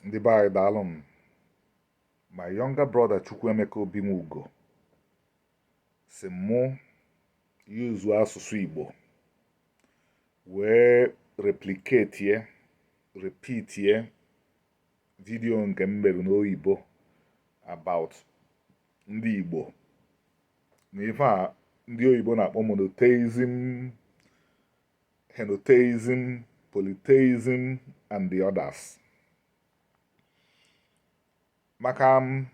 ndị be anyị daalụ m my younger brother Chukwuemeka Obinwugo sị mụ yuzu asụsụ Igbo wee repliketie repitie video nke m mere n'oyibo about ndị Igbo na ife a ndị oyibo na-akpọ monotheism henotheism, polytheism, and the others. maka um,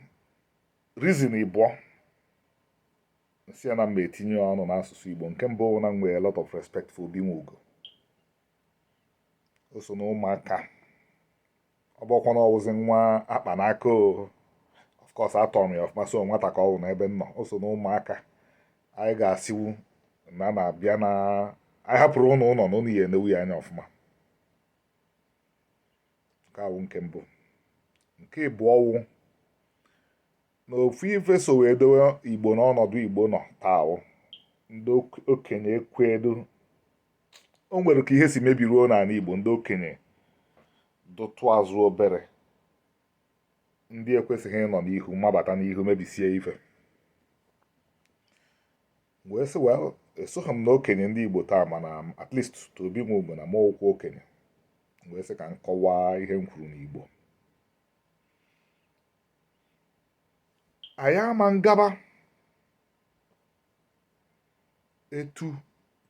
reason ịbụọ m sị ya na m ga-etinye ọnụ n'asụsụ Igbo nke mbụ wụ na m nwere a lot of respect for Obinwugo o so na ụmụaka ọ bụkwa na ọ wụzi nwa a kpa n'aka of course atọrọ m ya ọfụma so nwata ka ọ wụ n'ebe m nọ o so na ụmụaka anyị ga-asịwu na nnaa bịa na anyị hapụrụ ụnụ ụnọ na ụnụ ya-enewu ya anya ọfụma nke a wụ nke mbụ nke ịbụọ wụ na ofu ife so wee dowe igbo n'ọnọdụ igbo nọ taa wụ ndị okenye ekwedu o nwere ka ihe si mebiruo n'anị igbo ndị okenye dụtụ azụ obere ndị ekwesịghị ịnọ n'ihu mabata n'ihu mebisie ife wee sị well esoghị m na okenye ndị igbo taa mana at least to Obinwugo na m ka wụ okenye wee sị ka m kọwaa ihe m kwuru n'igbo anyị ama ngaba etu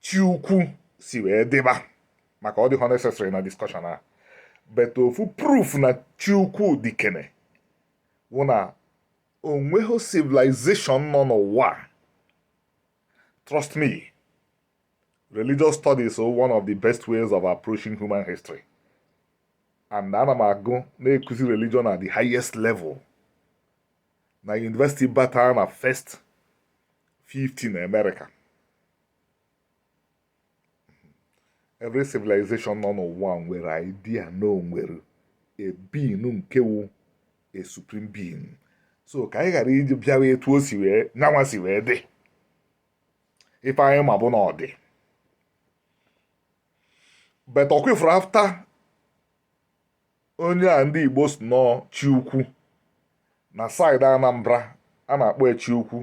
chi ukwu si wee dịba maka ọ dịghọ necessary na discussion a but ofu proof na chi ukwu dịkene wụ na o nweghị civilization nọ n'ụwa trust me religious studies is one of the best ways of approaching human history and ana m agụ na-ekuzi religion at the highest level na university bata na first 50 na America every civilization nọ n'ụwa nwere idea na o nwere a being nke wụ a supreme being so ka anyị ghara iji bịawa etu o si wee nya nwa si wee dị ife anyị ma bụ na ọ dị but ọkwa ị fụrụ after onye a ndị igbo sị na ọ wụ chi ukwu na side anambra a na-akpọ ya chi ukwu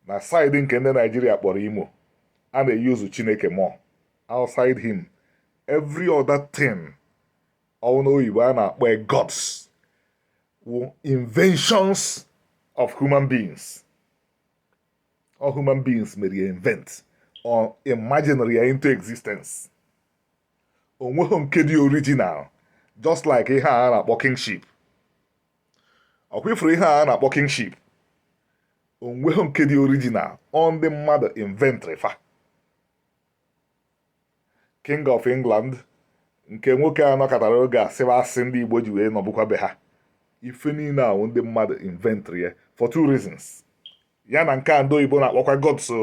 na side nke ndị Nigeria kpọrọ imo a na-eyuzu chineke more outside him every other thing ọ wụ n'oyibo a na-akpọ gods wụ inventions of human beings ọ human beings mere ya invent or imaginary ya into existence onweghị nke dị original just like ihe a na-akpọ kingship ọkwa ị fụrụ ihe a na-akpọ kingship onweghị nke dị original ọ ndị mmadụ inventri fa King of England nke nwoke a nọkatara oge a sịwa asị ndị Igbo ji wee nọbụkwa be ha ife niile a wụ ndị mmadụ inventri ya for two reasons ya na nke a ndị oyibo na-akpọkwa god so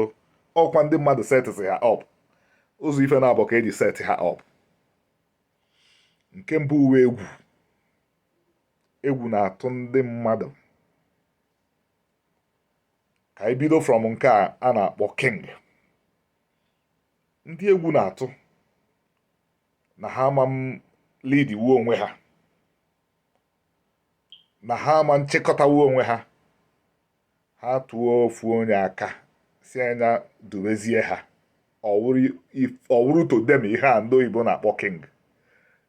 ọkwa ndị mmadụ setịsị ha up ụzọ ife naabọ ka e ji set ha up nke mbụ wụ egwu egwu na-atụ ndị mmadụ ka anyị bido from nke a a na-akpọ king ndị egwu na-atụ na ha aman leadwu onwe ha na ha aman chịkọtawu onwe ha ha tụọ ofu onye aka sị nya dubezie ha ọ wụrụ to them ihe a ndị oyibo na-akpọ king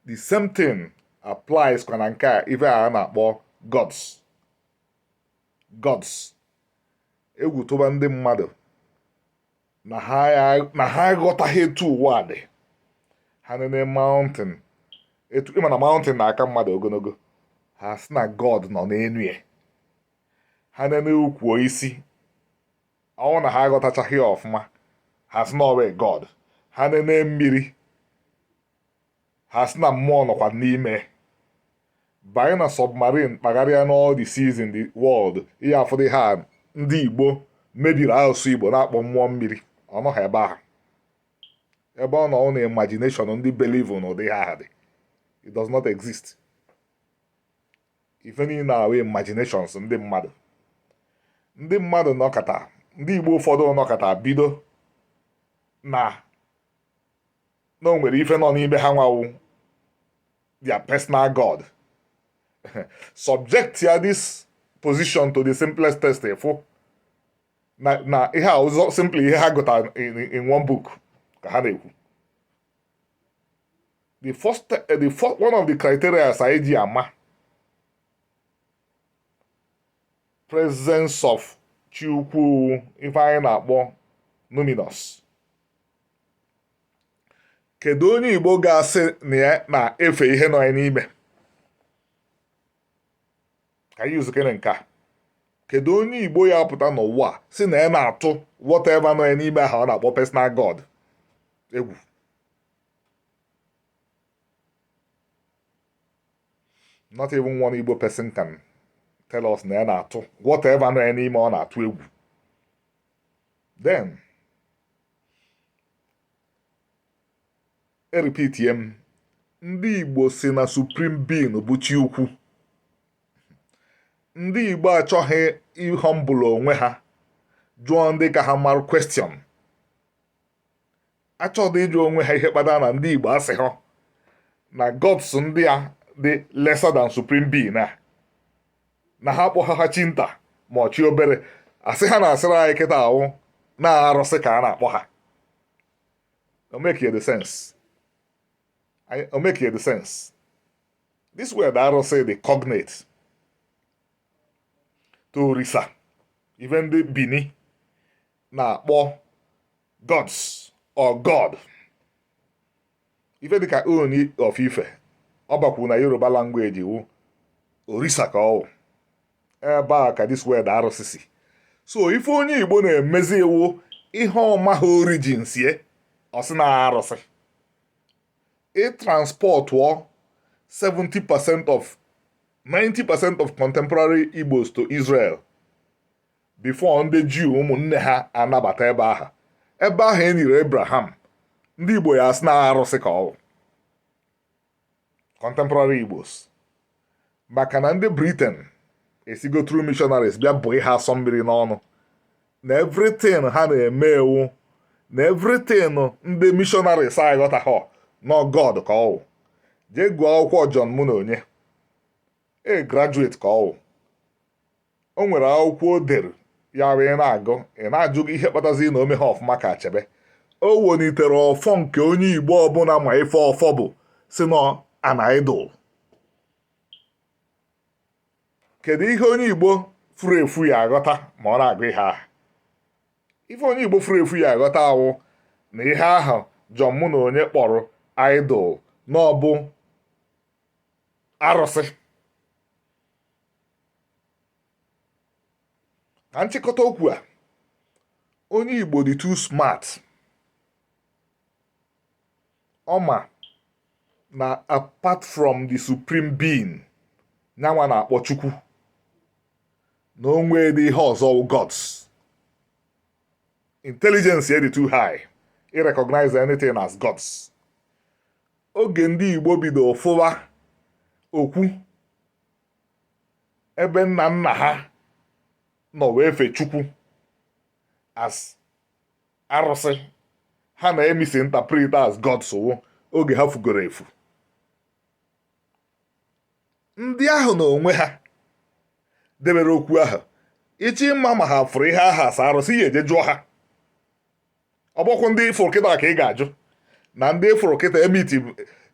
the same thing applies kwa na nke a ife a na-akpọ gods gods egwu tụba ndị mmadụ na ha na ha aghọtaghị etu ụwa dị ha nene mountain etu ị ma na mountain na-aka mmadụ ogologo ha sị na god nọ n'elu ya ha nene ukwu osisi ọ wụ na ha aghọtachaghị ya ọfụma ha sị na ọ wụ god ha nene mmiri ha sị na mmụọ nọkwa n'ime banye na submarine kpagharịa n'all the seas in the world ị ya-afụ ụdị ihe a ndị igbo mebiri asụsụ igbo na-akpọ mmụọ mmiri ọ nọghị ebe ahụ ebe ọ nọ na imagination ndị believe na ụdị ha dị it does not exist ife niile a wụ imaginations ndị mmadụ ndị mmadụ nọkata ndị igbo ụfọdụ nọkata bido na na o nwere ife nọ n'ime ha nwa wụ their personal god subject ya this position to the simplest test ị fụ na na ihe a wụ sọ simply ihe ha gụtara in one book ka ha na-ekwu the first eh, the first one of the criteria anyị ji ama presence of chi ukwu ife anyị na-akpọ numinous kedu onye igbo ga-asị na ya na-efe ihe nọ ya n'ime ka anyị zikere nke a kedu onye igbo ya pụta n'ụwa sị na ya na-atụ whatever nọ ya n'ime ahụ ọ na-akpọ personal god egwu not even one igbo person can tell us na ya na-atụ whatever nọ ya n'ime ọ na-atụ egwu then erepeatie m ndị Igbo sị na supreme being bụ chi ukwu ndị Igbo achọghị ịhọmbụlụ onwe ha jụọ ndị ka ha mara question achọghị ịjụ onwe ha ihe kpatara na ndị Igbo asịha na gods ndị a dị lesser than supreme being na ha kpọha ha chi nta ma ọ chi obere asị ha na-asịrị anyị kịta a wụ na arụsị ka a na-akpọ ha o makie the sense o makie the sense this word a arụsị dị cognate to orisa even ndị bini na-akpọ gods or god ife dịka ooni of ife ọba kwuru na yoruba language wu orisa ka ọwụ ebe a ka this word a arụsị si so ife onye igbo na-emezi wụ ihe ọ maha origin sie ọ sị na arụsị ị transportụọ 70% or 90% of contemporary igbos to israel before ndị jew ụmụnne ha anabata ebe ahụ ebe ahụ e nyere abraham ndị igbo ya asị na arụsị ka ọwụ contemporary igbos maka na ndị britain esigo through missionaries bịa bụ ha asọ mmiri n'ọnụ na everything ha na-eme ewu na everything ndị missionaries aghọtaha na ọ god ka ọwụ jee gụọ akwụkwọ John Munonye e graduate ka ọwụ o nwere akwụkwọ o dere ya bụ ị na-agụ ị na-ajụ ihe kpatazi na o meha ọfụma ka achebe o wenitere ọfọ nke onye igbo ọbụla ma ife ọfọ bụ sị na an idol kedu ihe onye igbo furu efu ya aghọta ma ọ na-agụ ihe ahụ ife onye igbo furu efu ya aghọta awụ na ihe ahụ john munonye kpọrọ idol na ọbụ arụsị na nchịkọta okwu a onye Igbo dị too smart ọ ma na apart from the supreme being nyanwa na-akpọ Chukwu na o nwedị ihe ọzọ wụ gods intelligence ya dị too high i recognize anything as gods oge ndị Igbo bido fụwa okwu ebe nna nna ha nọ wee fe chukwu as arụsị ha na-emisinterpret as gods ọ wụ oge ha fugoro efu ndị ahụ na onwe ha debere okwu ahụ ị chọọ ịma ma ha fụrụ ihe ahụ as arụsị ị ya-eje jụọ ha ọ bụkwa ndị ị fụrụ kịta ka ị ga-ajụ na ndị ị fụrụ kịta emeet m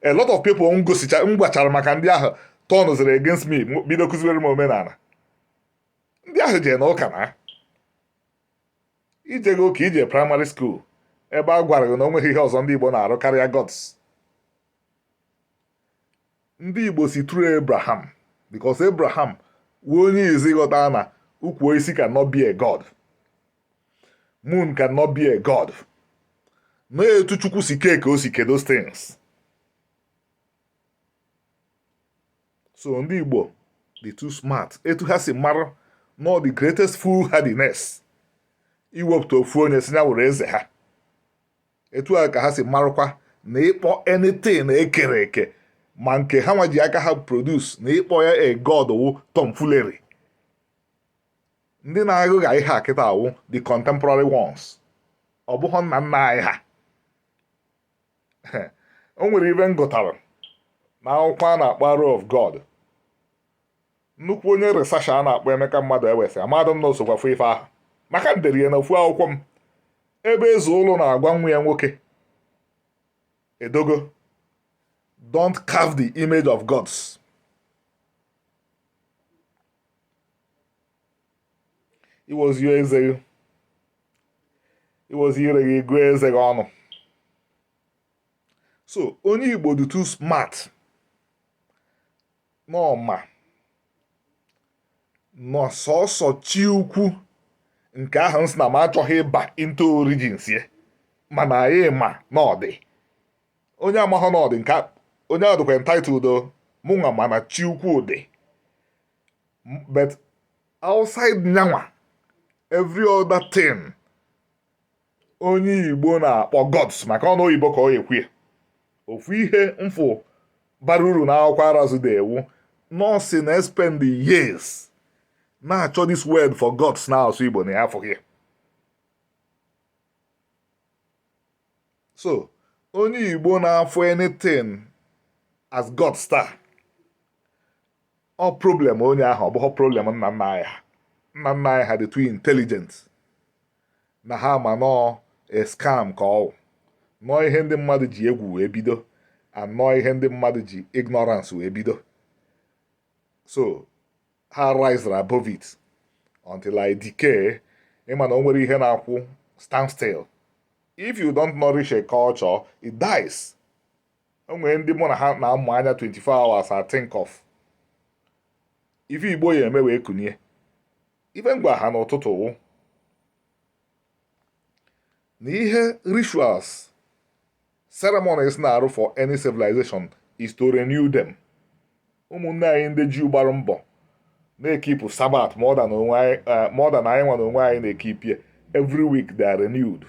a lot of people m gwachara maka ndị ahụ turnziri against me bido kuziwere m omenala ndị ahụ jee na ụka na i jeghị ụka i jee primary school ebe a gwara gị na o nweghị ihe ọzọ ndị Igbo na-arụ karịa gods ndị Igbo si through Abraham because Abraham wụ onye izi ghọta na ukwu osisi cannot be a god moon cannot be a god na etu chukwu si kee ka o si kee those things so ndị igbo dị too smart etu ha si mara na ọ the greatest foolhardiness iwepụta ofu onye sị ya wụrụ eze ha etu a ka ha si marụkwa na ịkpọ anything ekere eke ma nke ha nwa ji aka ha produce na ịkpọ ya a god wụ tomfoolery ndị na-aghụgha ihe a kịta a wụ the contemporary ones ọ bụghị nna nna anyị ha o nwere ife m gụtara na akwụkwọ a na-akpọ Arrow of God nnukwu onye researcher a na-akpọ Emeka Maduewesi amadụ m na o sokwa fụ ife ahụ maka m dere ya na ofu akwụkwọ m ebe Ezeulu na-agwa nwa ya nwoke Edogo don't carve the image of gods i wezie eze gị i wezie ire gị gụọ eze gị ọnụ so onye igbo dị too smart na ọ ma na ọ sọsọ chi ukwu nke ahụ m sị na m achọghị ịba into origins ya mana anyị ma na ọ dị onye amaghọ na ọ dị nke onye ahụ dịkwa entitled mụnwa ma na chi ukwu dị but outside nya nwa every other thing onye igbo na-akpọ gods maka ọnụ oyibo ka ọ ekwu ya ofu ihe m fụ bara uru na akwụkwọ arazu dere wụ na ọ sị na ya spend years na-achọ this word for gods na asụsụ igbo na ya afụghị ya so onye igbo na-afụ anything as gods taa ọ problem onye ahụ ọ bụghị problem nna nna anyị ha nna nna anyị ha dị too intelligent na ha ma na ọ a scam ka ọ wụ na ọ ihe ndị mmadụ ji egwu wee bido and na ọ ihe ndị mmadụ ji ignorance wee bido so ha risere above it until it decay ị ma na o nwerọ ihe na-akwụ stand still if you don't nourish a culture it dies o nwere ndị mụ na ha na-amụ anya 24 hours ethink of ife igbo ya eme wee kunie ife m gwa ha n'ụtụtụ wụ na ihe rituals ceremonies na-arụ for any civilization is to renew them ụmụnne anyị ndị Juu gbara mbọ na-ekipụ sabat more than anyị nwa na onwe anyị na-ekipi ya every week they are renewed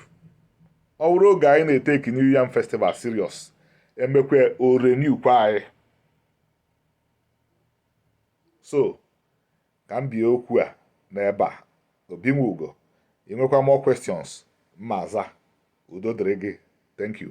ọ bụrụ oge anyị na-eteki New Yam Festival serious emekwaa o renew kwa anyị so ka m bie okwu a n'ebe a obi nwe ugo ị nwekwa more questions m ma aza udo dịrị gị thank you